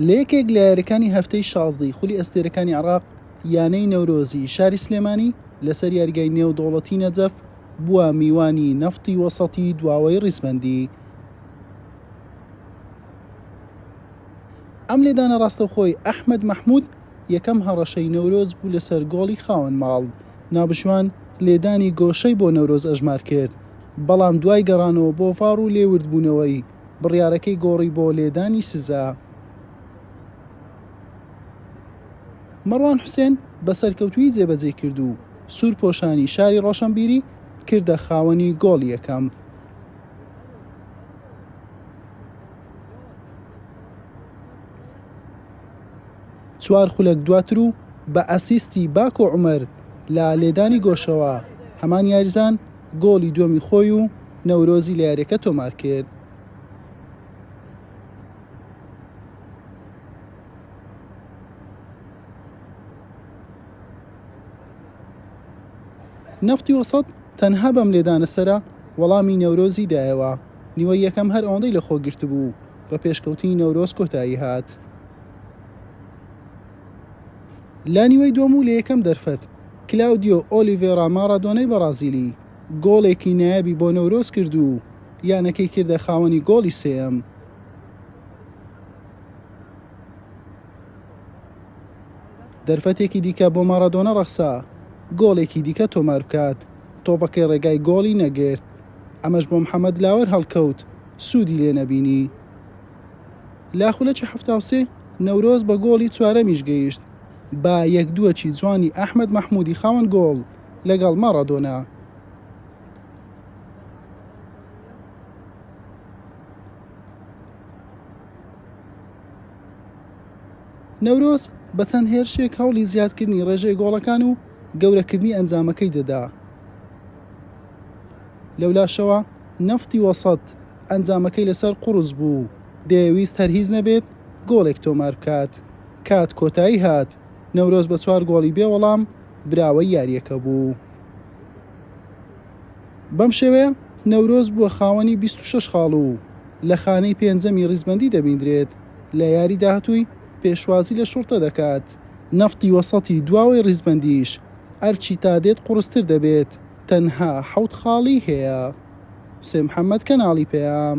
لە یەکێک لە یاریەکانی هەفتەی شازدەی خولی ئەستێرەکانی عراق یانەی نەورۆزی شاری سلێمانی لەسەر یاریگای نێو دەوڵەتی نەجەف بووە میوانی نەفتی وەسەتی دواوەی ڕیزبەندی ئەم لێدانە ڕاستەوخۆی ئەحمد مححمود یەکەم هەڕەشەی نەورۆز بوو لەسەر گۆڵی خاوەن ماڵ نابژوان لێدانی گۆشەی بۆ نەورۆز ئەژمار کرد بەڵام دوای گەڕانەوە بۆ ڤاڕ و لێوردبوونەوەی بڕیارەکەی گۆڕی بۆ لێدانی سزا. مەڕوان حوسێن بە سەرکەوتوویی جێبەجێی کرد و سوورپۆشانی شاری ڕۆشەنبیری کردە خاوەنی گۆڵی یەکەم. چوار خولەک دواتر و بە ئەسیستی باکۆ عومەر لە لێدانی گۆشەوە، هەمان یاریزان، گۆڵی دووەمی خۆی و نەورۆزی لە یارییەکە تۆمارکرد. نەفتی وەسەت تەنها بەم لێدانە سەرە وەڵامی نەورۆزی دایەوە، نیوەی یەکەم هەر ئەوەندەی لەخۆگرتبوو، بە پێشکەوتنی نەورۆز کۆتایی هات. لە نیوەی دووەم و لە یەکەم دەرفەت، کلاودیۆ ئۆلیڤێرا ماڕادۆنای بەڕازیلی گۆڵێکی نایابی بۆ نەورۆز کرد و یانەکەی کردە خاوەنی گۆڵی سێیەم. دەرفەتێکی دیکە بۆ ماڕادۆنا ڕەخسا گۆڵێکی دیکە تۆمار بکات، تۆپەکەی ڕێگای گۆڵی نەگرت، ئەمەش بۆ محەمەد لاوەر هەڵکەوت، سوودی لێ نەبینی. لە خولەکی حەفتا و سێ نەورۆز بە گۆڵی چوارەمیش گەیشت بە یەک دووەکی جوانی ئەحمەد مەحمودی خاوەن گۆڵ لەگەڵ ماڕادۆنا. نەورۆز بە چەند هێرشێک هەوڵی زیادکردنی ڕێژەی گۆڵەکان و گەورەکردنی ئەنجامەکەی دەدا لەولاشەوە نەفتی وەسەت ئەنجامەکەی لەسەر قوڕس بوو، دەیەویست هەر هیچ نەبێت گۆڵێک تۆمار بکات. کات کۆتایی هات، نەورۆز بە چوار گۆڵی بێ وەڵام براوەی یارییەکە بوو. بەم شێوەیە نەورۆز بووە خاوەنی بیست و شەش خاڵ و لە خانەی پێنجەمی ریزبەندی دەبیندرێت، لە یاری داهاتووی پێشوازی لە شوڕتە دەکات. نەفتی وەسەتی دواوەی ریزبەندیش ئەرکی تادێت قوڕستر دەبێت. تەنها حەوت خاڵی هەیە. سێ محمد کەناڵی پەیام.